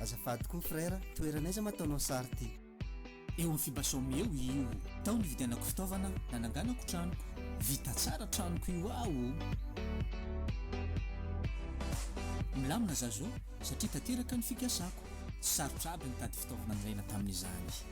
Azafady koa frère, toerana aiza ma ataonao sary ty? Eo amin'ny Fibasom eo io. Tao nividianako fitaovana nananganako tranoko. Vita tsara tranoko io aho o! Milamina za zao satria tanteraka ny fikasako. Tsy sarotra aby nitady fitaovana nilaina tamin'izany.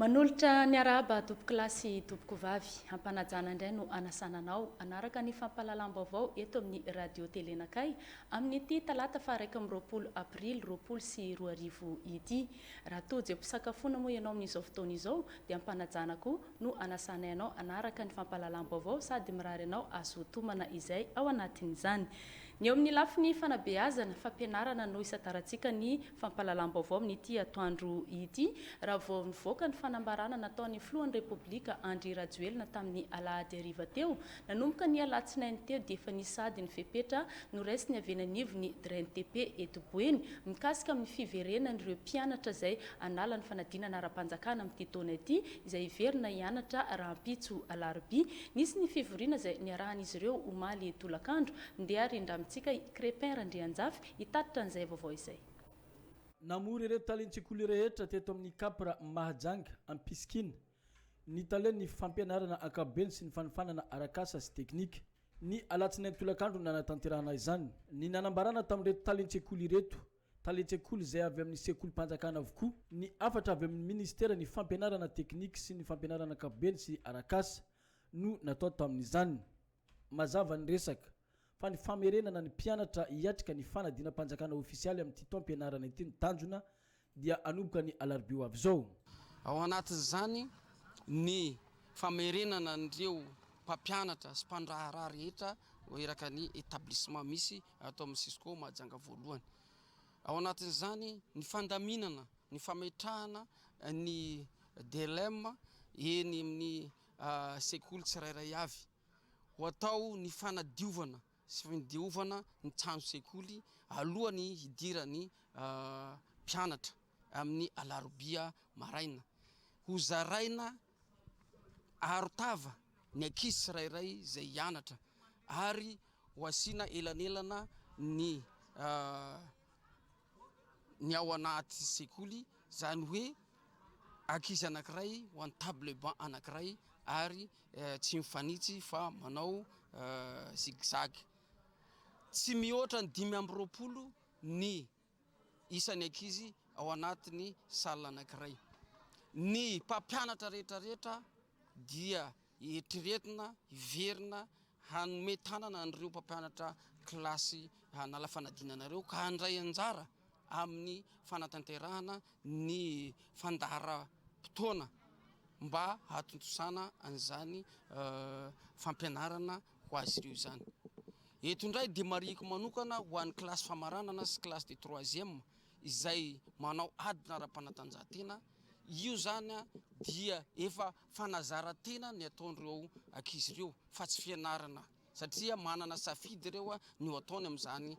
Manolotra ny harahaba tompokolahy sy tompokovavy. Ampanajana indray no anasana anao hanaraka ny fampahalalam-baovao eto amin'ny Radio Telenakay amin'ity talata faha iraika amby roapolo aprily roapolo sy roa arivo ity. Raha tojo am-pisakafoana moa ianao amin'izao fotoana izao dia ampanajana koa no anasanay anao hanaraka ny fampahalalam-baovao sady mirary anao hahazoa tomana izay ao anatin'izany. Ny eo amin'ny lafiny fanabeazana, fampianarana no isatarantsika ny Fampahalalam-baovao amin'ity atoandro ity, raha vao nivoaka ny fanambarana nataon'ny filohan'ny Repoblika Andry Rajoelina tamin'ny alahady hariva teo. Nanomboka ny alatsinainy teo dia efa nisy ady ny fepetra noraisin'ny avy eny anivon'ny DRENTP eto Boeny mikasika amin'ny fiverenan'ireo mpianatra izay hanala ny fanadinana ara-panjakana amin'ity taona ity izay hiverina hianatra rahampitso alarobia. Nisy ny fivoriana izay niarahan'izy ireo omaly tolakandro. Ndeha rindramitsika i Crépin Randrianjafy hitatitra an'izay vaovao izay. Namory ireo talen-tsekoly rehetra teto amin'ny Capra Mahajanga Ampisikina ny talen'ny fampianarana ankapobeny sy ny fanofanana arak'asa sy teknika. Ny alatsinainy tolakandro no nanatanterahana izany. Ny nanambarana tamin'ireto talen-tsekoly ireto, talen-tsekoly izay avy amin'ny sekolim-panjakana avokoa, ny hafatra avy amin'ny minisiteran'ny Fampianarana teknika sy ny fampianarana ankapobeny sy arak'asa no natao tamin'izany. Mazava ny resaka. fa ny famerenana ny mpianatra hiatrika ny fanadinam-panjakana ofisialy amin'ity taom-pianarana ity no tanjona, dia hanomboka ny alarobia ho avy izao. Ao anatin'izany ny famerenana an'ireo mpampianatra sy mpandraharaha rehetra eraky ny établissement misy ato amin'ny Cisco Mahajanga voalohany. Ao anatin'izany ny fandaminana ny fametrahana ny DLEM eny amin'ny sekoly tsirairay avy. ho atao ny fanadiovana sy fandiovana ny trano sekoly alohan'ny hidiran'ny mpianatra amin'ny alarobia maraina. Hozaraina arotava ny ankizy tsirairay izay hianatra ary ho asiana elanelana ny ny ao anaty sekoly, izany hoe ankizy anankiray ho an'ny table banc anankiray ary tsy mifanitsy fa manao zigzag. Tsy mihoatra ny dimy amby roapolo ny isan'ny ankizy ao anatin'ny salle anankiray. Ny mpampianatra rehetra rehetra dia Eritreretina hiverina hanome tanana an'ireo mpampianatra kilasy hanala fanadinana ireo ka handray anjara amin'ny fanatanterahana ny fandaharam-potoana mba hahatontosana an'izany fampianarana ho azy ireo izany. Eto indray dia marihiko manokana ho an'ny kilasy famaranana sy kilasy de troisième izay manao adina ara-panatanjahantena, io izany dia efa Fanazaran-tena ny ataon'ireo ankizy ireo fa tsy fianarana satria manana safidy ireo ny ho ataony amin'izany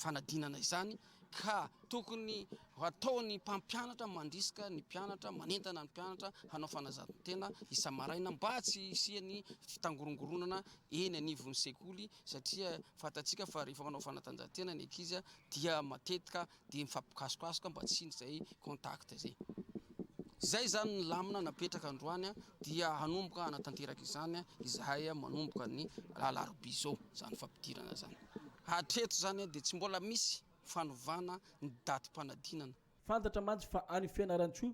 fanadinana izany ka tokony hataon'ny mpampianatra mandrisika ny mpianatra, manentana ny mpianatra hanao fanazaran-tena isa-maraina mba tsy hisian'ny fitangorongoronana eny anivon'ny sekoly satria fantatsika fa rehefa manao fanatanjahantena ny ankizy dia matetika dia mifampikasokasoka mba tsy indry izay contact izay. Izay izany ny lamina napetraka androany dia hanomboka hanatanteraka izany izahay manomboka ny alarobia izao izany fampidirana izany. Hatreto izany dia tsy mbola misy fanovana ny datim-panadinana. Fantatra mantsy fa any Fianarantsoa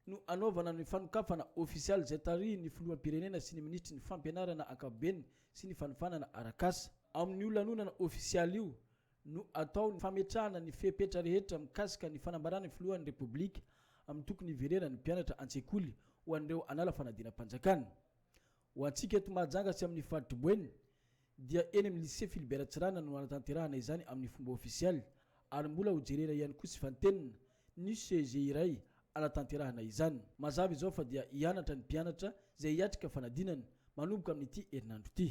no hanaovana ny fanokafana ofisialy izay tarihin'ny Filoham-pirenena sy ny Minisitry ny Fampianarana ankapobeny sy ny Fanofanana Arakasa. Amin'io lanonana ofisialy io no atao ny fametrahana ny fepetra rehetra mikasika ny fanambarana ny Filohan'ny Repoblika amin'ny tokony hiverenan'ny mpianatra an-tsekoly ho an'ireo hanala fanadinam-panjakana. Ho antsika eto Mahajanga sy amin'ny faritry Boeny dia eny amin'ny Lycée Philibert Tsiranana no hanatanterahana izany amin'ny fomba ofisialy ary mbola ho jerena ihany koa sy fantenina ny CEG iray hanatanterahana izany. Mazava izao fa dia hianatra ny mpianatra izay hiatrika fanadinana manomboka amin'ity herinandro ity.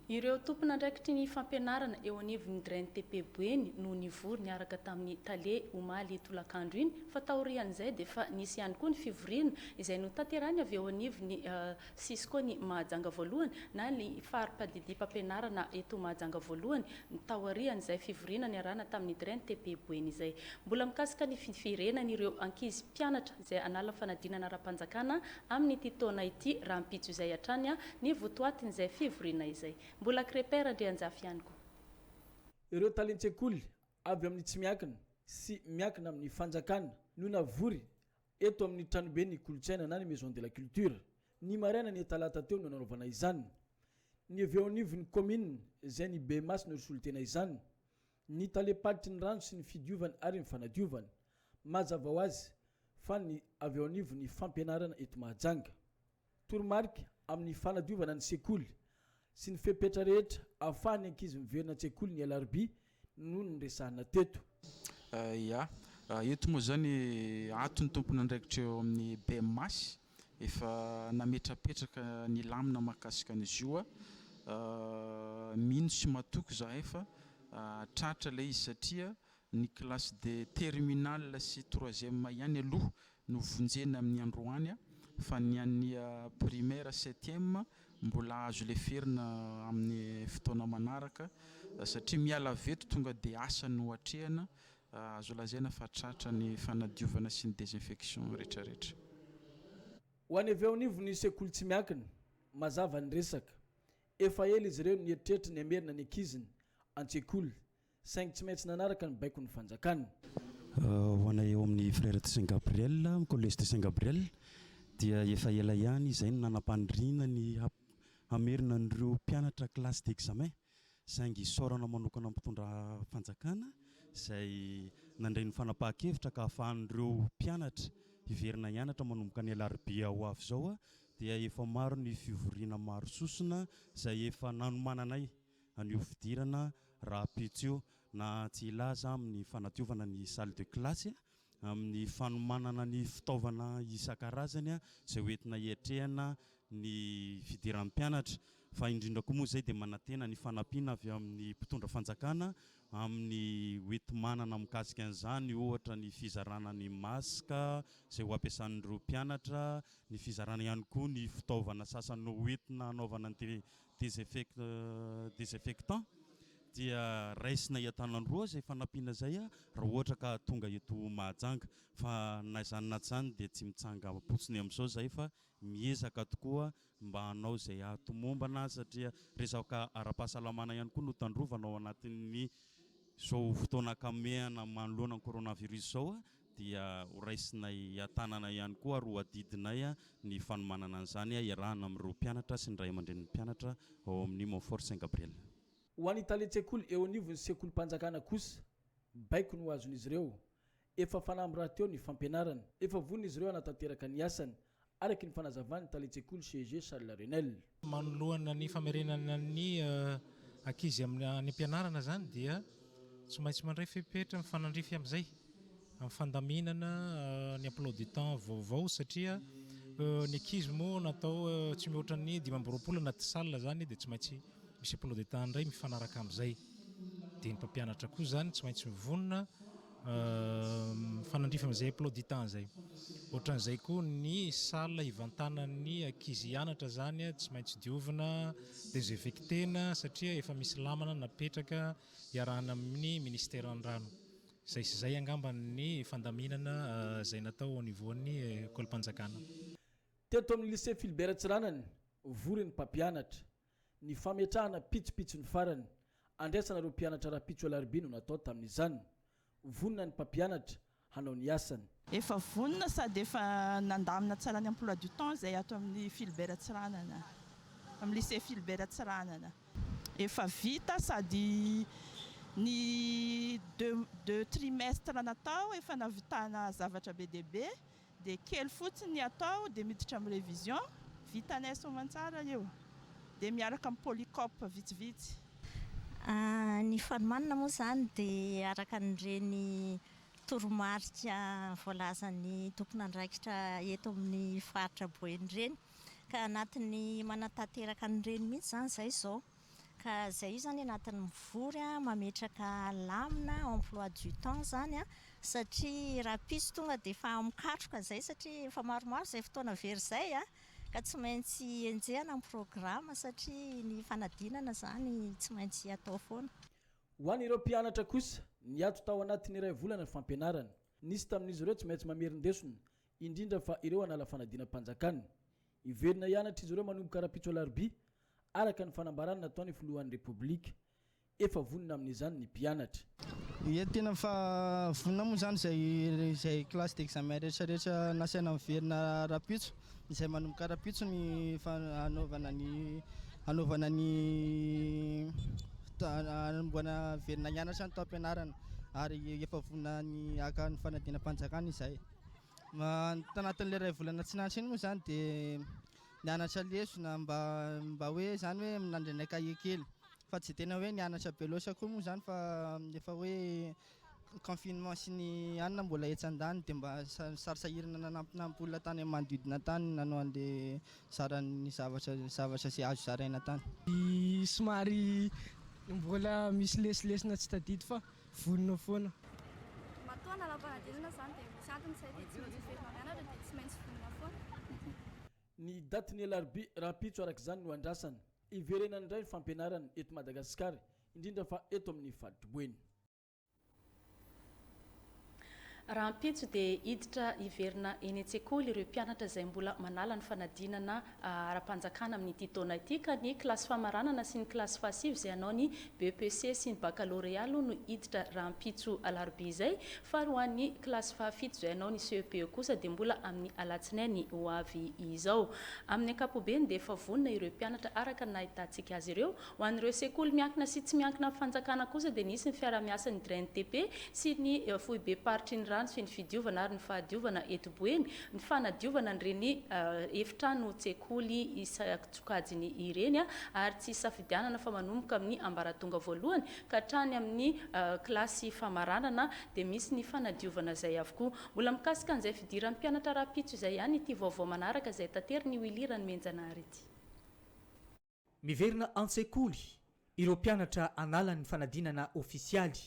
Ireo tompon'andraikitry ny fampianarana eo anivon'ny Graine TP Boeny no nivory niaraka tamin'ny Tale omaly tolakandro iny fa taorian'izay dia efa nisy ihany koa ny fivoriana izay notanterahiny avy eo anivon'ny Cisco ny Mahajanga voalohany na ny fari-padidiam-pampianarana eto Mahajanga voalohany taorian'izay fivoriana niarahana tamin'ny Graine TP Boeny izay mbola mikasika ny fiverenan'ireo ankizy mpianatra izay hanala fanadinana ara-panjakana amin'ity taona ity rahampitso izay hatrany ny votoatin'izay fivoriana izay. Mbola Crepin Randrianjafy ihany koa. Ireo talen-tsekoly avy amin'ny tsy miankina sy miankina amin'ny fanjakana no navory eto amin'ny tranoben'ny kolontsaina na ny Maison de la Culture ny maraina ny talata teo no nanaovana izany. Ny avy eo anivon'ny kaominina izay ny bem-asy no nisolo-tena izany Ny talem-paritry ny rano sy ny fidiovany ary ny fanadiovany. Mazava ho azy fa ny avy eo anivon'ny fampianarana eto Mahajanga. Toromarika amin'ny fanadiovana ny sekoly sy ny fepetra rehetra ahafahan'ny ankizy miverina an-tsekoly ny alarobia no noresahina teto. Ia. Eto moa izany antony tompon'andraikitra eo amin'ny BEMAS Efa nametrapetraka ny lamina mahakasika an'izy io aho. Mino sy matoky izahay fa tratra ilay izy satria ny classe de terminale sy troisième ihany aloha no vonjena amin'ny androany fa ny an'ny primaire septième mbola azo leferina amin'ny fotoana manaraka satria miala avy eto tonga dia asa no atrehina Azo lazaina fa tratra ny fanadiovana sy ny désinfection retraretra. Ho any avy eo anivon'ny sekoly tsy miankina, mazava ny resaka. Efa ela izy ireo no nieritreritra ny hamerina ny ankiziny an-tsekoly, saingy tsy maintsy nanaraka ny baikon'ny fanjakana. Ho anay ao amin'ny Frères de Saint Gabriel, Collège de Saint Gabriel, dia efa ela ihany izay no nanam-paniriana ny hamerina an'ireo mpianatra classe d'examen, saingy isaorana manokana ny mpitondra fanjakana izay nandray ny fanapahan-kevitra ka ahafahan'ireo mpianatra hiverina hianatra manomboka ny alarobia ho avy izao dia efa maro ny fivoriana maro sosona izay efa nanomananay an'io fidirana rahampitso io na tsy hilaza amin'ny fanadiovana ny salle de classe amin'ny fanomanana ny fitaovana isan-karazany izay ho entina hiatrehana ny fidiran'ny mpianatra fa indrindra koa moa izay dia manantena ny fanampiana avy amin'ny mpitondra fanjakana amin'ny ho enti-manana mikasika an'izany ohatra ny fizarana ny masque izay ho ampiasan'ireo mpianatra, ny fizarana ihany koa ny fitaovana sasany ho entina hanaovana ny désinfectant dia raisina hiatanandroa izay fanampiana izay raha ohatra ka tonga eto Mahajanga fa na izany na tsy izany dia tsy mitsangampotsiny amin'izao izahay fa miezaka tokoa mba hanao izay hahatomombana satria resaka ara-pahasalamana ihany koa no tandrovana ao anatin'ny izao fotoana akamehana manoloana ny coronavirus izao dia ho raisinay an-tanana ihany koa ary ho adidinay ny fanomanana an'izany iarahana amin'ireo mpianatra sy ny ray aman-drenin'ny mpianatra ao amin'ny Montfort Saint Gabriel. Ho an'ny talen-tsekoly eo anivon'ny sekolim-panjakana kosa, baiko no azon'izy ireo. Efa fanamby rahateo ny fampianarana. Efa vonona izy ireo hanatanteraka ny asany. araky ny fanazavan'ny talen-tsekoly CEG Charles Renel. Manoloana ny famerenana ny ankizy any am-pianarana izany dia tsy maintsy mandray fepetra mifanandrify amin'izay amin'ny fandaminana ny emploi du temps vaovao satria ny ankizy moa natao tsy mihoatra ny dimy amby roapolo anaty salle izany dia tsy maintsy misy emploi du temps indray mifanaraka amin'izay. Dia ny mpampianatra koa izany tsy maintsy mivonona Mifanandrify amin'izay emploi du temps izay. Ohatran'izay koa ny salle hivantanan'ny ankizy hianatra izany tsy maintsy diovina, desinfecter-na satria efa misy lamana napetraka iarahana amin'ny Ministeran'ny rano. Izay sy izay angamba ny fandaminana izay natao au niveau-n'ny Ekolim-panjakana. Teto amin'ny Lycée Philbert Tsiranana, vory ny mpampianatra. Ny fametrahana pitsopitsony farany andraisana ireo mpianatra rahampitso alarobia no natao tamin'izany. Vonona ny mpampianatra hanao ny asany. Efa vonona sady efa nandamina tsara ny emploi du temps izay ato amin'ny Philbert Tsiranana, amin'ny lycée Philbert Tsiranana. Efa vita sady ny deux deux trimestres natao efa nahavitana zavatra be dia be. Dia kely fotsiny ny atao dia miditra amin'ny révision, vitanay soamantsara io. Dia miaraka amin'ny polycope vitsivitsy. Ny fanomanana moa izany dia araka an'ireny toromarika voalazan'ny tompon'andraikitra eto amin'ny faritra Boeny ireny. Ka anatin'ny manatanteraka an'ireny mihitsy izany izahay izao. Ka izay io izany anatin'ny mivory mametraka lamina, emploi du temps, izany an, satria rahampitso tonga dia efa mikatroka izay satria efa maromaro izay fotoana very izay an, ka tsy maintsy enjehina ny programa satria ny fanadinana izany tsy maintsy atao foana. Ho an'ireo mpianatra kosa, niato tao anatin'ny iray volana ny fampianarana. Nisy tamin'izy ireo tsy maintsy mamerin-desona, indrindra fa ireo hanala fanadinam-panjakana. Hiverina hianatra izy ireo manomboka rahampitso alarobia, araka ny fanambarana nataon'ny filohan'ny Repoblika. Efa vonona amin'izany ny mpianatra. Ye, tena efa vonona moa izany izay izay classe d'examen rehetra rehetra nasaina niverina rahampitso, izay manomboka rahampitso ny hanaovana ny hanaovana ny hanombohana hiverina hianatra ny taom-pianarana ary efa vonona ny haka ny fanadinam-panjakana izahay. Tanatin'ilay iray volana tsy nahantra iny moa izany dia Nianatra lesona mba mba hoe izany hoe nandrinay cahier kely fa tsy tena hoe nianatra be loatra koa moa izany fa efa hoe confinement sy ny anona mbola etsy andaniny dia mba sarisahirana nanampinampy olona tany amin'ny manodidina tany nanao an'le zaran'ny zavatra zavatra izay azo zaraina tany. Somary mbola misy lesilesona tsy tadidy fa Vonona foana. Matoa nanao fanadinana izany dia misy antony izay dia tsy maintsy heverina mianatra dia tsy maintsy vonona foana. Ny datin'ny alarobia rahampitso araka izany no andrasana hiverenany indray ny fampianarana eto Madagasikara, indrindra fa eto amin'ny faritr'i Boeny. Rahampitso dia hiditra hiverina eny an-tsekoly ireo mpianatra izay mbola manala ny fanadinana ara-panjakana amin'ity taona ity ka ny kilasy famaranana sy ny kilasy fahasivy izay hanao ny BEPC sy ny Baccalauréat aloha no hiditra rahampitso alarobia izay fa ary ho an'ny kilasy fahafito izay hanao ny CEP kosa dia mbola amin'ny alatsinainy ho avy izao. Amin'ny ankapobeny dia efa vonona ireo mpianatra araka ny nahitantsika azy ireo Ho an'ireo sekoly miankina sy tsy miankina amin'ny fanjakana kosa dia nisy ny fiarahamiasan'ny Green-TP sy ny Foibem-paritry ny rano sy ny fidiovana ary ny fahadiovana eto Boeny ny fanadiovana an'ireny efitranon-tsekoly isan-tsokajiny ireny ary tsy isafidianana fa manomboka amin'ny ambaratonga voalohany ka hatrany amin'ny kilasy famaranana dia misy ny fanadiovana izay avokoa. Mbola mikasika an'izay fidiran'ny mpianatra rahampitso izay ihany ity vaovao manaraka izay taterin'i Willy Ranomenjanahary ity. Miverina an-tsekoly ireo mpianatra analan'ny fanadinana ofisialy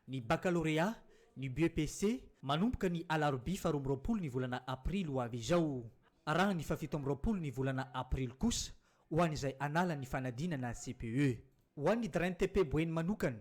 ny bakalorea, ny BEPC, manomboka ny alarobia faharoa amby roapolo ny volana aprily ho avy izao. Arahany fahafito amby roapolo ny volana aprily kosa ho an'izay anala ny fanadinana CPE. Ho an'ny DRENTP Boeny manokana,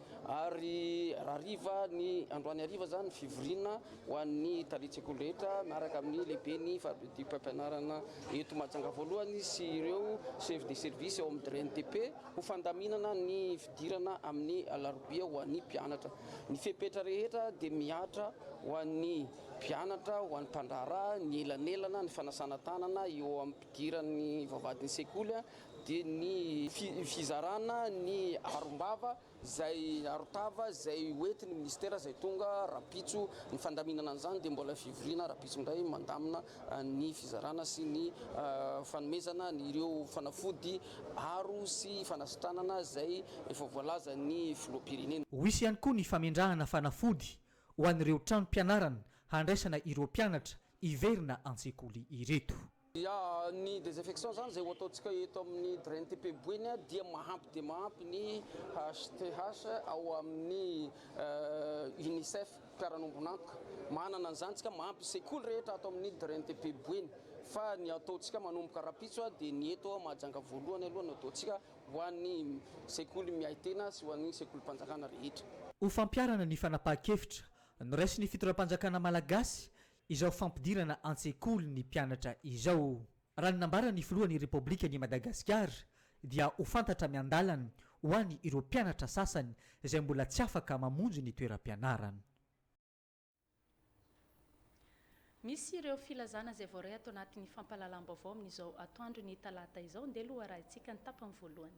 Ary hariva ny androany hariva izany fivoriana ho an'ny talen-tsekoly rehetra miaraka amin'ny lehiben'ny fampiodim-pampianarana eto Mahajanga voalohany sy ireo chef de service ao amin'ny DRNTP ho fandaminana ny fidirana amin'ny alarobia ho an'ny mpianatra. Ny fepetra rehetra dia mihatra ho an'ny mpianatra, ho an'ny mpandraharaha, ny elanelana, ny fanasana tanana eo am-pidiran'ny vavahadin'ny sekoly dia ny fizarana ny arom-bava izay aron-tava izay hoentin'ny minisitera izay tonga rahampitso, ny fandaminana an'izany dia mbola fivoriana rahampitso indray mandamina ny fizarana sy ny fanomezana an'ireo fanafody aro sy fanasitranana izay efa voalazan'ny filoham-pirenena. Ho hisy ihany koa ny famendrahana fanafody ho an'ireo tranom-pianarana handraisana ireo mpianatra hiverina an-tsekoly ireto. Ya, ny desinfection zany zay ho ataontsika eto amin'ny Drain TP Boeny dia mahampy dia mahampy ny HTH ao amin'ny UNICEF mpiara-nombon'antoka. Manana an'izany tsika mahampy sekoly rehetra ato amin'ny Drain TP Boeny. Fa ny ataontsika manomboka rahampitso dia ny eto Mahajanga voalohany aloha no ataontsika ho an'ny sekoly miahy tena sy ho an'ny sekolim-panjakana rehetra. Ho fampiharana ny fanapahan-kevitra noraisin'ny fitondram-panjakana malagasy izao fampidirana an-tsekoly ny mpianatra izao. Raha ny nambaran'ny filohan'ny Repoblikan' i Madagasikara dia ho fantatra miandalana ho any ireo mpianatra sasany izay mbola tsy afaka mamonjy ny toeram-pianarana. Misy ireo filazana izay voaray ato anatin'ny fampahalalam-baovao amin'izao atoandron'ny talata izao. Ndeha aloha harahintsika ny tapany voalohany.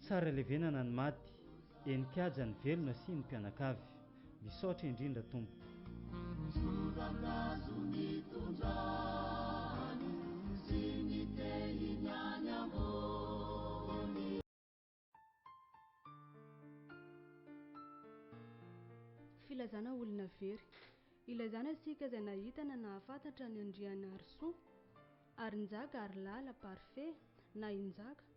Tsara levenana ny maty, eny kiaja ny velona sy ny mpianakavy. Misaotra indrindra tompoko. Ny soratrazo nitondra any sy ny tehiny any ambony. Filazana olona very. Ilazana isika izay nahita na nahafantatra an'i Andrianarisoa, Harinjaka, Harilala, Parfait, na i Njaka.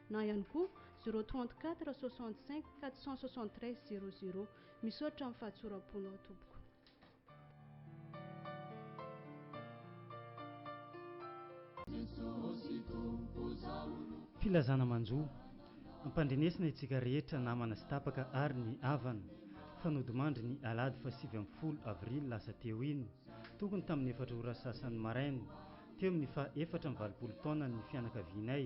na ihany koa 034 65 473 00. Misaotra amin'ny fahatsoram-ponao tompoko. Filazana manjo. Ampandrenesina itsika rehetra namana sy tapaka ary ny havana fa nodimandry ny alahady fahasivy ambin'ny folo avrily lasa teo iny, tokony tamin'ny efatra ora sasany maraina, teo amin'ny faha efatra amby valopolo taonany ny fianakavianay.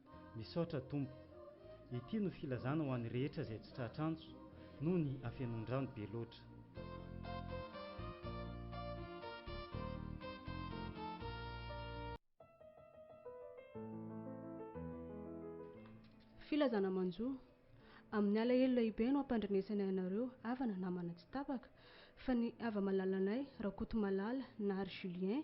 Misaotra Tompo. Ity no filazana ho an'ny rehetra izay tsy tratra antso noho ny hafenoan-drano be loatra. Filazana manjo. Amin'ny alahelo lehibe no ampandrenesany anareo havana namana tsy tapaka, fa ny hava-malalanay Rakotomalala Nary Julien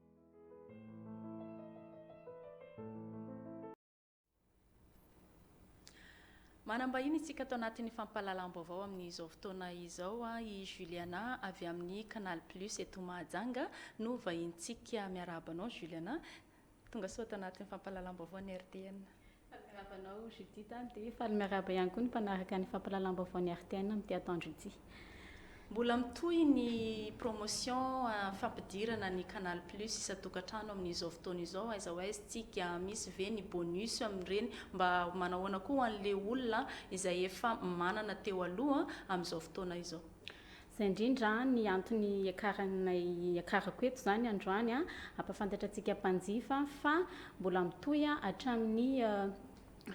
Manam-bahiny isika ato anatin'ny fampahalalam-baovao amin'izao fotoana izao. I Juliana avy amin'ny Canal Plus eto Mahajanga no vahinintsika. Miarahaba anao Juliana. Tongasoa ato anatin'ny fampahalalam-baovaon'ny RTN. Faly miarahaba anao Judith a, dia faly miarahaba ihany koa ny mpanaraka ny fampahalalam-baovaon'ny RTN amin'ity atoandro ity. Mbola mitohy ny promotion fampidirana ny Canal Plus isan-tokantrano amin'izao fotoana izao, aiza ho aiza tsika, misy ve ny bonus amin'ireny, mba manahoana koa ho an'ilay olona izay efa manana teo aloha amin'izao fotoana izao. Izay indrindra ny antony iakaranay iakarako eto izany androany an, hampafantatra antsika mpanjifa fa mbola mitohy hatramin'ny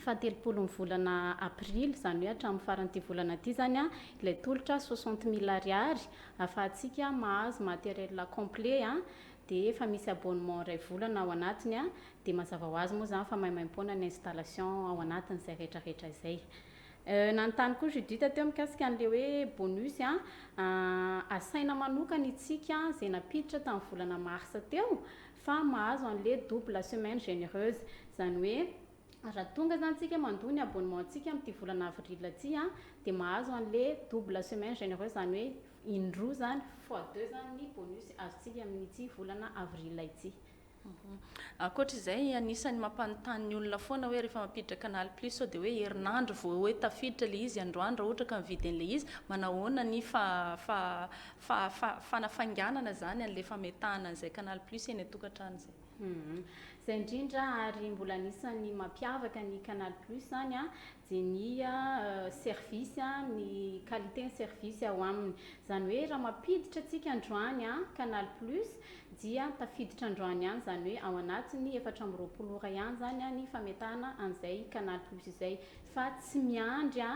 fahatelopolon'ny volana aprily, izany hoe hatramin'ny faran'ity volana ity izany an, ilay tolotra soixante mille ariary ahafahantsika mahazo matériel complet an, dia efa misy abonnement iray volana ao anatiny an, dia mazava ho azy moa izany fa maimaimpoana ny installation ao anatin'izay rehetrarehetra izay. Nanontany koa Judith teo mikasika an'ilay hoe bonus asaina manokana itsika izay nampiditra tamin'ny volana marsa teo fa mahazo an'ilay double semaine genereuse. Izany hoe raha tonga izany tsika mandoa ny abonnement ntsika amin'ity volana avril ity dia mahazo an'ilay double semaine genereuse izany hoe indroa izany, fois deux izany ny bonus azontsika amin'ity volana avril ity. Ankoatra izay, anisan'ny mampanontany ny olona foana hoe rehefa mampiditra canal plus sao dia hoe herinandro vao hoe tafiditra ilay izy, androany raha ohatra ka mividy an'ilay izy, manahoana ny fanafainganana izany an'ilay fametahana an'izay canal plus eny an-tokantrano izay. Izay indrindra ary mbola anisan'ny mampiavaka ny canal plus izany dia ny service, ny qualité ny service ao aminy. Izany hoe raha mampiditra tsika androany canal plus dia tafiditra androany ihany izany hoe ao anatin'ny efatra amby roapolo ora ihany izany ny fametahana an'izay canal plus izay fa tsy miandry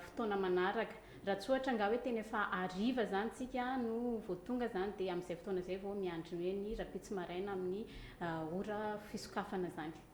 fotoana manaraka raha tsy ohatra angaha hoe tena efa hariva izany isika no vao tonga izany dia amin'izay fotoana izay vao miandry ny hoe ny rahampitso maraina amin'ny ora fisokafana izany.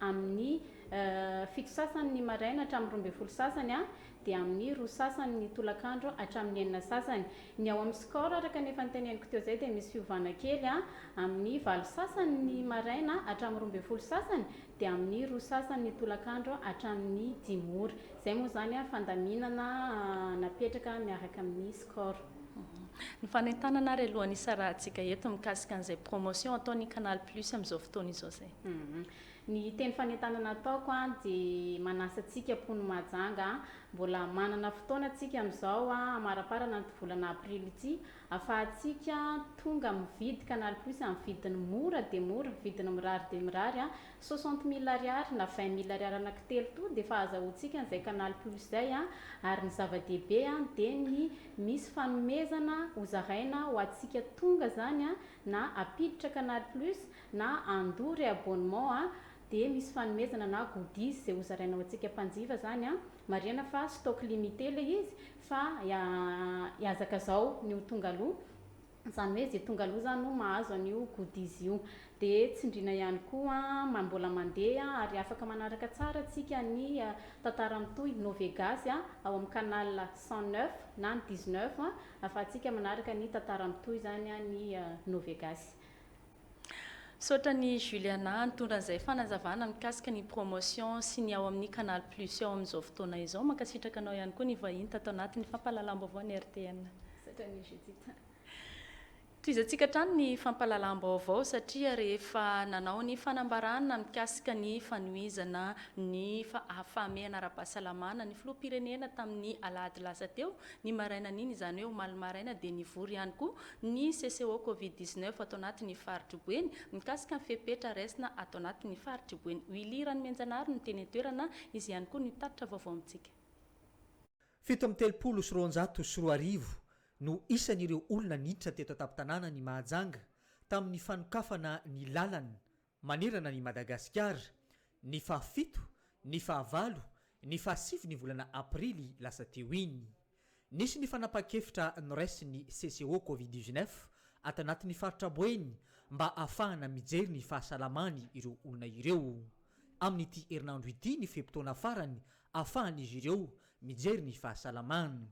amin'ny fito sasany ny maraina hatramin'ny roa ambin'ny folo sasany dia amin'ny roa sasany ny tolakandro hatramin'ny enina sasany. Ny ao amin'ny score araka ny efa noteneniko teo izay dia misy fiovana kely amin'ny valo sasany ny maraina hatramin'ny roa ambin'ny folo sasany dia amin'ny roa sasany ny tolakandro hatramin'ny dimy ora. Izay moa izany fandaminana napetraka miaraka amin'ny score. Ny fanentanana ary alohan'ny hisarahantsika eto mikasika an'izay promotion ataon'ny Canal Plus amin'izao fotoana izao izay. Ny teny fanentanana ataoko dia manasa antsika mponin'i Mahajanga, mbola manana fotoana antsika amin'izao hamaraparana ity volana aprily ity afahantsika tonga mividy Canal Plus amin'ny vidiny mora dia mora, vidiny mirary dia mirary Soixante mille ariary na vingt mille ariary anaky telo to de efa azahoantsika an'izay canal plus zay an, ary ny zava-dehibe an de ny misy fanomezana hozaraina ho antsika tonga zany an, na apiditra canal plus na andoa re abonnement an de misy fanomezana na goodies izay hozaraina ho antsika mpanjifa zany an, marihana fa stock limite le izy fa hiazakazao ny ho tonga aloha. Izany hoe izay tonga aloha izany no mahazo an'io goodies io. Dia tsindriana ihany koa an, mbola mandeha ary afaka manaraka tsara tsika ny tantara mitohy Novegasy ao amin'ny canal cent neuf na ny dix neuf afahantsika manaraka ny tantara mitohy izany ny Novegasy. Misaotra an'i Juliana nitondra an'izay fanazavana mikasika ny promotion sy ny ao amin'ny Canal Plus ao amin'izao fotoana izao. Mankasitraka anao ihany koa nivahiny tato anatin'ny fampahalalam-baovaon'ny RTM. Misaotra an'i Judith. Tohizantsika hatrany ny fampahalalam-baovao satria rehefa nanao ny fanambarana mikasika ny fanohizana ny fahamehana ara-pahasalamana ny filoham-pirenena tamin'ny alahady lasa teo, ny marainan'iny, izany hoe omaly maraina, dia nivory ihany koa ny CCO Covid dix neuf ato anatin' ny Faritr'i Boeny, mikasika ny fepetra raisina ato anatin' ny Faritr'i Boeny. Willy Ranomianjanahary no teny an-toerana, izy ihany koa no tatitra vaovao amintsika. Fito amby telopolo sy roanjato sy roa arivo no isan'ireo olona niditra teto an-tampon-tanànan'i Mahajanga tamin'ny fanokafana ny lalana Manerana an'i Madagasikara, ny fahafito, ny fahavalo, ny fahasivy ny volana aprily lasa teo iny. Nisy ny fanapahan-kevitra noraisin'ny CCO Covid dix-neuf ato anatin'ny faritra Boeny mba hahafahana mijery ny fahasalaman'ny ireo olona ireo. Amin'ity herinandro ity ny fe-potoana farany ahafahan'izy ireo mijery ny fahasalamany.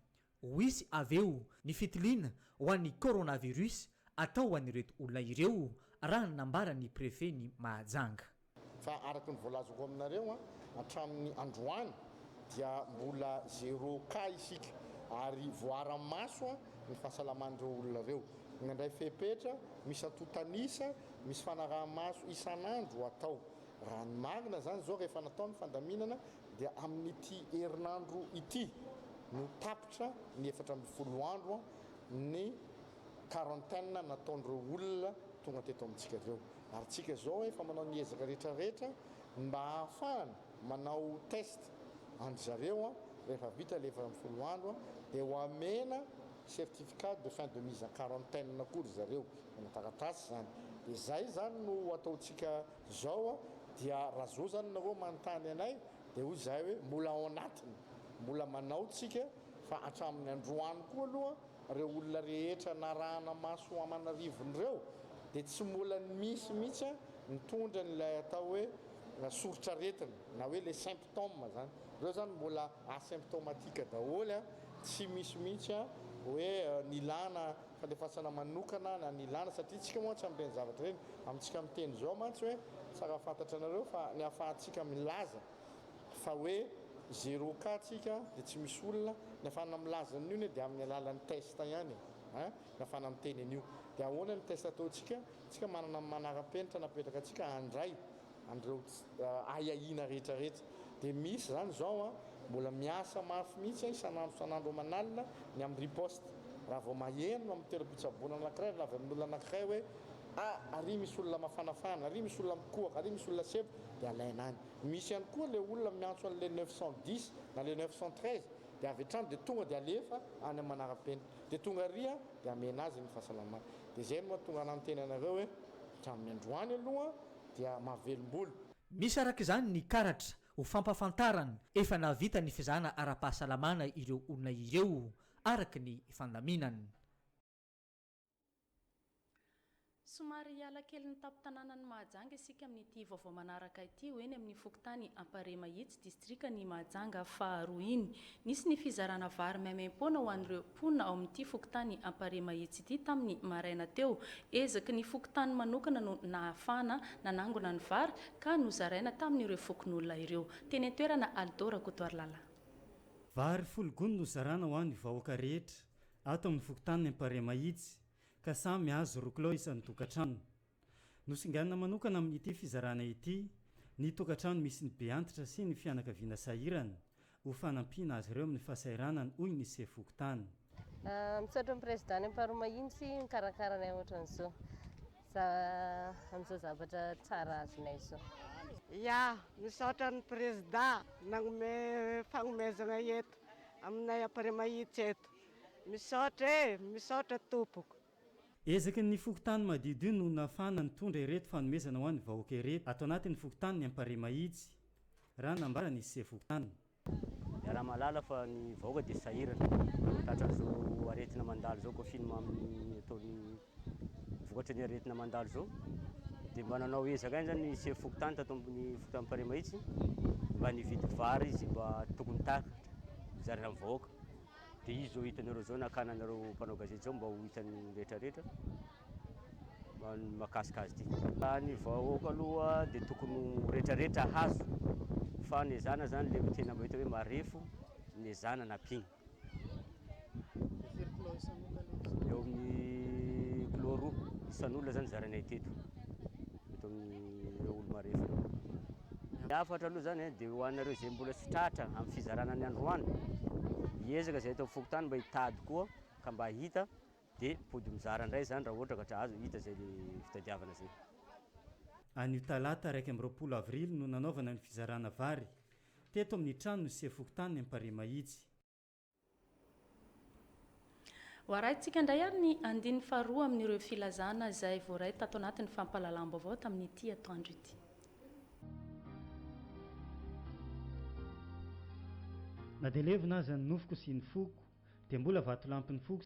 Ho hisy avy eo ny fitiliana ho an'ny coronavirus atao ho an'ireto olona ireo, raha ny nambaran'ny prefen'i Mahajanga. Fa araka ny voalazako aminareo, hatramin'ny androany dia mbola zero cas isika ary voaara-maso ny fahasalaman'ireo olona ireo. Nandray fepetra misy antontan'isa, misy fanaraha-maso isan'andro atao. Raha ny marina izany izao rehefa natao ny fandaminana dia amin'ity herinandro ity no tapitra ny efatra ambin'ny folo andro ny quarantaine nataon'ireo olona tonga teto amintsika ireo ary tsika izao efa manao ny ezaka rehetra rehetra ny mba hahafahana manao test an-dry zareo rehefa vita ilay efatra ambin'ny folo andro dia ho amena certificat de fin de mise en quarantaine koa ry zareo manao taratasy izany dia izay izany no ataontsika Zao dia ra zo zany nareo manontany anay dia hoy zahay hoe mbola ao anatiny mbola manao tsika fa hatramin'ny androany koa aloha reo olona rehetra narahana maso ho aman'arivony reo dia tsy mbola misy mitsy nitondra an'ilay atao hoe soritr'aretina na hoe le symptome zany reo zany mbola asymptomatique daholo tsy misy mitsy hoe nilana fandefasana manokana na ny ilana satria isika mantsy amin'ireny zavatra ireny amintsika miteny izao mantsy hoe tsara fantatra anareo fa ny ahafahantsika milaza fa hoe zero cas tsika dia tsy misy olona ny ahafahana milaza an'io anie dia amin'ny alalan'ny test ihany eh ny ahafahana miteny an'io dia ahoana ny test ataontsika tsika manana manara-penitra napetraka antsika handray an'ireo ahiahiana rehetra rehetra dia misy izany izao an, mbola miasa mafy mihitsy an isan'andro isan'andro aman'alina ny amin'ny riposte raha vao maheno amin'ny toeram-pitsaboana anankiray raha avy amin'olona anankiray hoe a ary misy olona mafanafana ary misy olona mikohaka ary misy olona sebo dia alaina any misy ihany koa ilay olona miantso an'ilay neuf cent dix na ilay neuf cent treize dia avy hatrany dia tonga dia alefa any amin'ny manara-penitra dia tonga ary an dia amena azy ny fahasalamana dia izay no mahatonga anà niteny anareo hoe hatramin'ny androany aloha dia mahavelom-bolo. Misy araka izany ny karatra ho fampahafantarana efa nahavita ny fizahana ara-pahasalamana ireo olona ireo araka ny fandaminana. Somary hiala kelin'ny tampon-tanànan'i Mahajanga isika amin'ity vaovao manaraka ity ho eny amin'ny fokontany Amparihy Mahitsy. Distrikan' i Mahajanga faharoa iny. Nisy ny fizarana vary maimaim-poana ho an'ireo mponina ao amin'ity fokontany Amparehamahitsy ity tamin'ny maraina teo. Ezaky ny fokontany manokana no nahafahana nanangona ny vary ka nozaraina tamin'ireo fokonolona ireo. Teny an-toerana, Aldo Rakotoarilala. Vary folo gony no zarana ho an'ny vahoaka rehetra ato amin'ny fokontany Amparehamahitsy ka samy azo roa kilao isan-tokantrano. Nosinganina manokana amin'ity fizarana ity ny tokantrano misy ny be antitra sy ny fianakaviana sahirana, ho fanampiana azy ireo amin'ny fahasahiranana, hoy ny sefo fokontany. Misaotra ny Prezida any Amparoa Mahitsy mikarakara anay ohatran'izao, amin'izao zavatra tsara azonay izao. Ya, misaotra ny Prezida nanome fagnomezana eto aminay Amparia Mahitsy eto. Misaotra e, misaotra tompoko. Ezaky ny fokontany madiodio no nafahana nitondra ireto fanomezana ho an'ny vahoaka ireto ato anatin'ny fokontanin'i Amparimahitsy, raha nambaran'ny sefo fokontany. Iaraha-mahalala fa ny vahoaka dia sahirana tratran'izao aretina mandalo izao, confinement amin'ny ataon'ny vokatry ny aretina mandalo izao dia mba nanao ezaka ihany izany ny sefo fokontany tato amin'ny fokontany Amparimahitsy mba nividy vary izay mba tokony takatra hozaraina amin'ny vahoaka. Dia izy zao hitanareo zao nakana anareo mpanao gazety zao mba ho hitan'ny rehetra rehetra ny makasika azy ity. Raha ny vahoaka aloha dia tokony ho rehetra rehetra hahazo fa ny ezana zany le tena mba hita hoe marefo ny ezana nampiany. Eo amin'ny kilo roa isan'olona zany zaranay teto. eto amin'ireo olo-marefo ireo. Ny hafatra aloha izany dia ho anareo izay mbola tsy tratra amin'ny fizarana ny androany, hiezaka izay eto amin'ny fokontany mba hitady koa ka mba hahita dia mpody mizara indray izany raha ohatra ka tra azo hita izay le fitadiavana izay. Anio talata iraika amby roapolo avrily no nanaovana ny fizarana vary teto amin'ny tranon'ny sefo fokontany Amparihy Mahitsy. Ho arahintsika indray ary ny andininy faharoa amin'ireo filazana izay voaray tato anatin'ny fampahalalam-baovao tamin'ity atoandro ity. Na dia levona aza ny nofoko sy ny foko, dia mbola vatolampin'ny foko.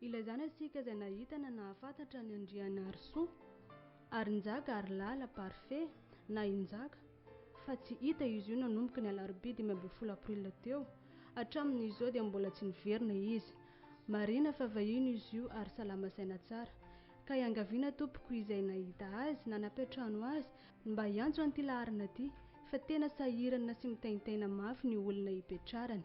Ilaizana isika izay nahita na nahafantatra an'i Andrianarisoa, Harinjaka Harilala Parfait, na i Njaka, fa tsy hita izy io nanomboka ny alarobia dimy ambin'ny folo aprila teo. Hatramin'izao dia mbola tsy niverina izy. Marina fa vahiny izy io ary salama saina tsara. Ka iangaviana tompoko izay nahita azy na nampiantrano azy mba hiantso an'ity laharana ity fa tena sahirana sy mitaintaina mafy ny olona ipetrarany.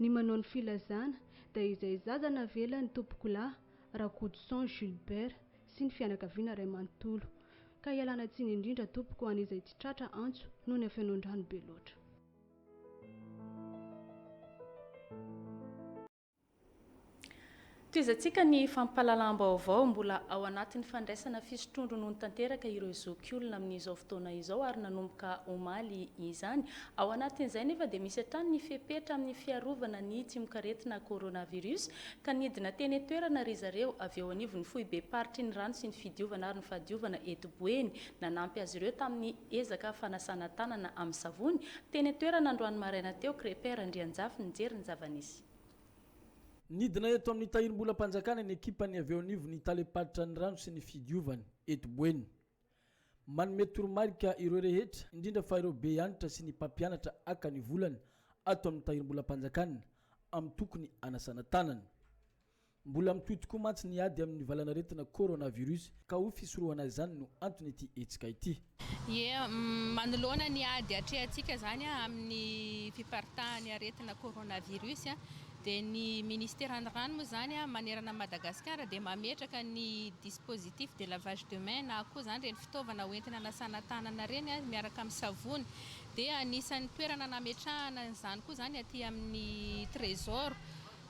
Ny manao ny filazana dia izay zaza navela ny tompokolahy Rakotoson Gilbert sy ny fianakaviana ray manontolo. Ka ialana tsiny indrindra tompoko ho an'izay tsy tratra antso noho ny hafenoan-drano be loatra. Tohizantsika ny fampahalalam-baovao mbola ao anatin'ny fandraisana fisotroan-dronono tanteraka ireo zokiolona amin'izao fotoana izao ary nanomboka omaly izany. Ao anatin'izay nefa dia misy hatrany ny fepetra amin'ny fiarovana ny tsimokaretina coronavirus ka nidina teny an-toerana ry zareo avy eo anivon'ny foibem-paritry ny rano sy ny fidiovana ary ny fahadiovana eto Boeny nanampy azy ireo tamin'ny ezaka fanasana tanana amin'ny savony teny an-toerana androany maraina teo Crepper Andrianjafy nijery ny zava-nisy. Nidina eto amin'ny Tahirimbolam-panjakana ny ekipan'ny avy eo anivon'ny Talem-paritra ny rano sy ny fidiovana, eto Boeny. Manome toromarika ireo rehetra, indrindra fa ireo be anitra sy ny mpampianatra haka ny volana ato amin'ny Tahirimbolam-panjakana amin'ny tokony hanasana tanana. Mbola mitohy tokoa mantsy ny ady amin'ny valanaretina Coronavirus ka ho fisorohana izany no anton'ity hetsika ity. Ie, manoloana ny ady atrehantsika izany amin'ny fiparitahan'ny aretina coronavirus dia ny Ministeran'ny Rano moa izany manerana an'i Madagasikara dia mametraka ny dispositif de lavage de main na koa izany ireny fitaovana hoentina hanasana tanana ireny miaraka amin'ny savony. Dia anisan'ny toerana nametrahana an'izany koa izany aty amin'ny Trésor.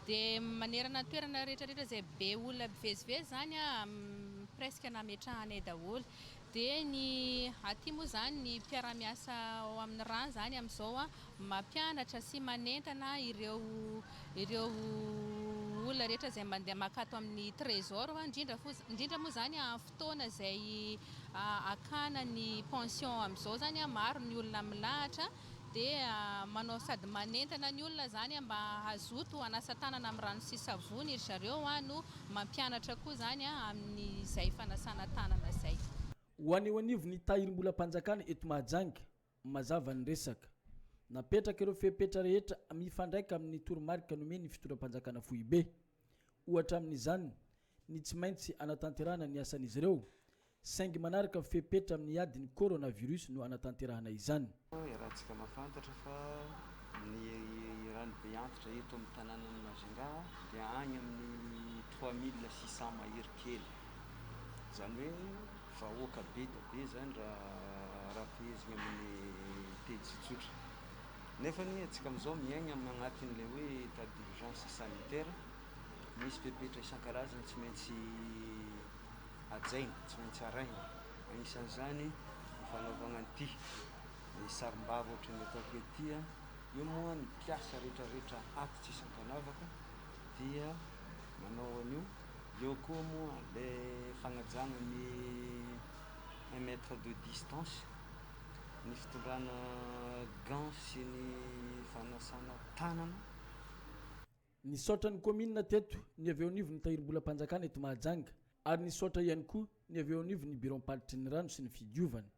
Dia manerana ny toerana rehetrarehetra izay be olona mpivezivezy izany presque nametrahanay daholo. Dia ny aty moa izany ny mpiara-miasa ao amin'ny rà izany amin'izao mampianatra sy manentana ireo ireo olona rehetra izay mandeha mankato amin'ny Trésor, indrindra fo indrindra moa izany amin'ny fotoana izay hakana ny pension amin'izao izany maro ny olona milahatra dia manao sady manentana ny olona izany mba hazoto hanasa tanana amin'ny rano sy savony ry zareo no mampianatra koa izany amin'izay fanasana tanana izay. Ho any eo anivon'ny Tahirimbolam-panjakana eto Mahajanga, mazava ny resaka. Napetraka ireo fepetra rehetra mifandraika amin'ny toromarika nomen'ny fitondram-panjakana foibe. Ohatra amin'izany ny tsy maintsy hanatanterahana ny asan'izy ireo Saingy manaraka fepetra amin'ny ady ny coronavirus no anatanterahana izany. Iarahantsika mahafantatra fa ny rano be antitra eto amin'ny tanànan'i Majinga dia any amin'ny trois mille six cents mahery kely. Izany hoe vahoaka be dia be izany raha araham-pehezina amin'ny teny tsotsotra. Nefa anie antsika amin'izao miaigna amin'ny agnatin'ilay hoe état d'urgence sanitaire. Misy fepetra isan-karazany tsy maintsy hajaina, tsy maintsy arahina. Anisan'izany ny fanaovana an'ity ny sarimbavy ohatry ny ataoko ity. Io moa ny mpiasa rehetrarehetra ato tsisy ankanavaka dia manao an'io. Eo koa moa ilay fagnajana ny un mètre de distance, ny fitondrana gants sy ny fanasana tanana. Nisaotra ny kaominina teto ny avy eo anivon'ny Tahirimbolam-panjakana eto Mahajanga ary nisaotra ihany koa ny avy eo anivon'ny Biraom-paritry ny Rano sy ny Fidiovana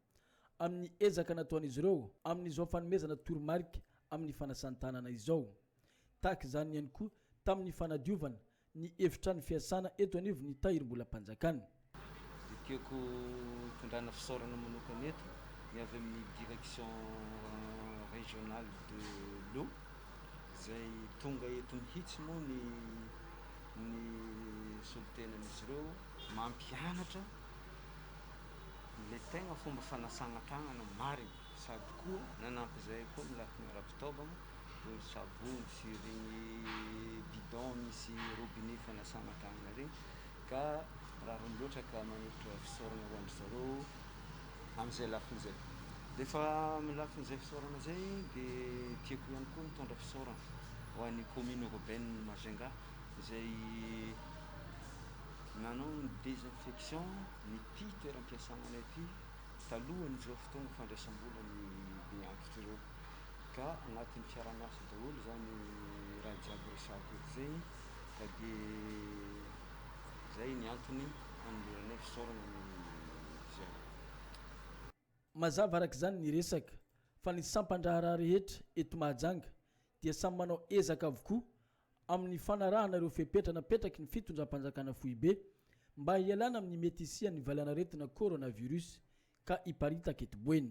amin'ny ezaka nataon'izy ireo amin'izao fanomezana toromarika amin'ny fanasan-tanana izao. Tahaka izany ihany koa tamin'ny fanadiovana ny efitrano fiasana eto anivon'ny Tahirimbolam-panjakana. Dia tiako tondrahana fisaorana manokana eto ny avy amin'ny Direction Régionale de l'eau izay tonga eto mihitsy moa ny ny solontenan'izy ireo mampianatra ilay tegna fomba fanasagna tagnana marigny sady koa nanampy izay koa ny lafiny ara-pitaovagna toy ny savony sy iregny bidon misy robinet fanasagna tagnana regny. Ka rariny loatra ka manolotra fisaorana ho an-dry zareo amin'izay lafiny izay. Rehefa amin'ny lafin'izay fisaorana izay dia tiako ihany koa mitondra fisaorana ho an'ny commune urbaine Majunga izay nanao ny désinfection n'ity toeram-piasananay ity talohan'izao fotoana fandraisam-bola ny be antitra ireo. Ka anatin'ny fiaraha-miasa daholo izany raha jiaby resahiko eto izay. Ka dia izay ny antony hanoloranay fisaorana ny Fizery. Mazava araka izany ny resaka fa ny sampan-draharaha rehetra eto Mahajanga dia samy manao ezaka avokoa amin'ny fanarahana ireo fepetra napetraky ny Fitondram-panjakana Foibe mba hialana amin'ny mety hisian'ny valanaretina Coronavirus ka hiparitaka eto Boeny.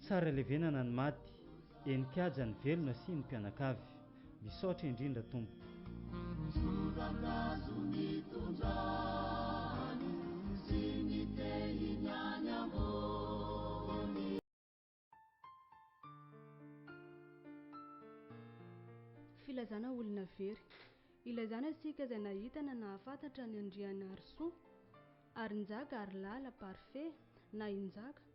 Tsara levenana ny maty, eny kiaja ny velona sy ny mpianakavy. Misaotra indrindra tompoko. Ny soratrazo mitondra ny sy ny tehiny any ambony. Filazana olona very. Ilazana isika izay nahita na nahafantatra an'i Andrianarisoa, Harinjaka, Harilala, Parfait, na i Njaka.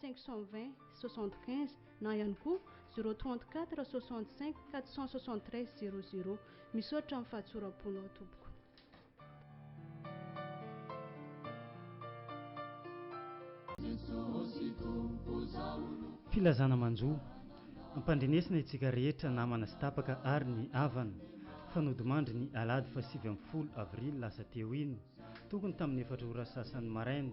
520 75 na ihany koa 034 65 473 00. Misaotra amin'ny fahatsoram-ponao tompoko. Filazana manjo. Ampandrenesina itsika rehetra namana sy tapaka ary ny havana fa nodimandry ny alahady fahasivy ambin'ny folo avrily lasa teo iny tokony tamin'ny efatra ora sasany maraina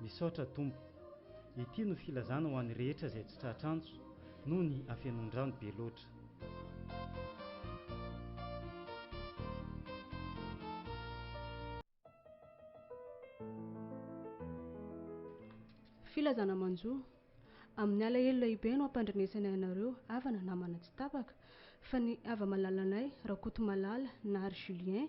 Misaotra Tompo. Ity no filazana ho an'ny rehetra izay tsy tratra antso noho ny hafenoan-drano be loatra. Filazana manjo. Amin'ny alahelo lehibe no ampandrenesanay anareo havana namana tsy tapaka, fa ny hava-malalanay Rakotomalala Nary Julien,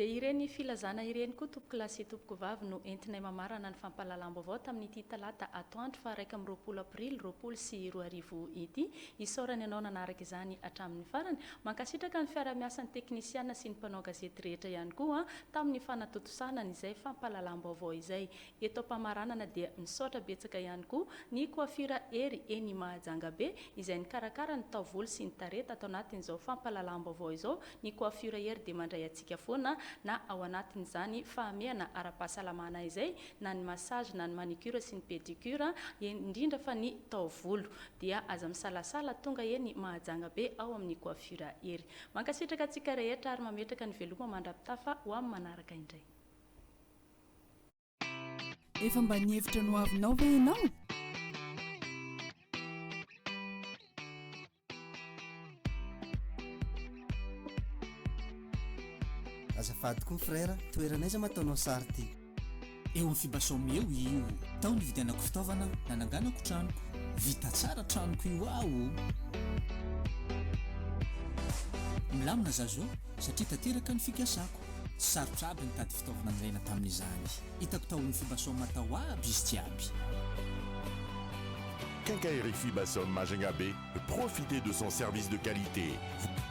Dia ireny filazana ireny koa tompokolahy sy tompokovavy no entinay mamarana ny fampahalalam-baovao tamin'ity talata atoandro faha iraika amby roapolo aprily roapolo sy roa arivo ity. Isaorana ianao nanaraka izany hatramin'ny farany. Mankasitraka ny fiarahamiasan'ny teknisiana sy ny mpanao gazety rehetra ihany koa tamin'ny fanatontosana an'izay fampahalalam-baovao izay. Eto am-pamaranana dia misaotra betsaka ihany koa ny Coiffure Hery eny Mahajanga be izay nikarakara ny taovolo sy ny tarehy tato anatin'izao fampahalalam-baovao izao, ny Coiffure Hery dia mandray antsika foana na ao anatin'izany fahamehana ara-pahasalamana izay na ny massage na ny manicure sy ny pedicure, indrindra fa ny taovolo dia aza misalasala tonga eny Mahajanga be ao amin'ny Coiffure Hery. Mankasitraka antsika rehetra ary mametraka ny veloma mandra-pitafa ho amin'ny manaraka indray. Efa mba nihevitra ny ho avinao ve ianao? Azafady koa frère, toerana aiza ma ataonao sary ty? Eo amin'ny Fibasome eo io. Tao nividianako fitaovana, nananganako tranoko. Vita tsara tranoko io aho o! Milamina za zao satria tanteraka ny fikasako. Tsy sarotra aby nitady fitaovana nilaina tamin'izany. Hitako tao amin'ny Fibasom tao aby izy jiaby. Quincaillerie Fibasom Majunga be, profitez de son service de qualité, vous.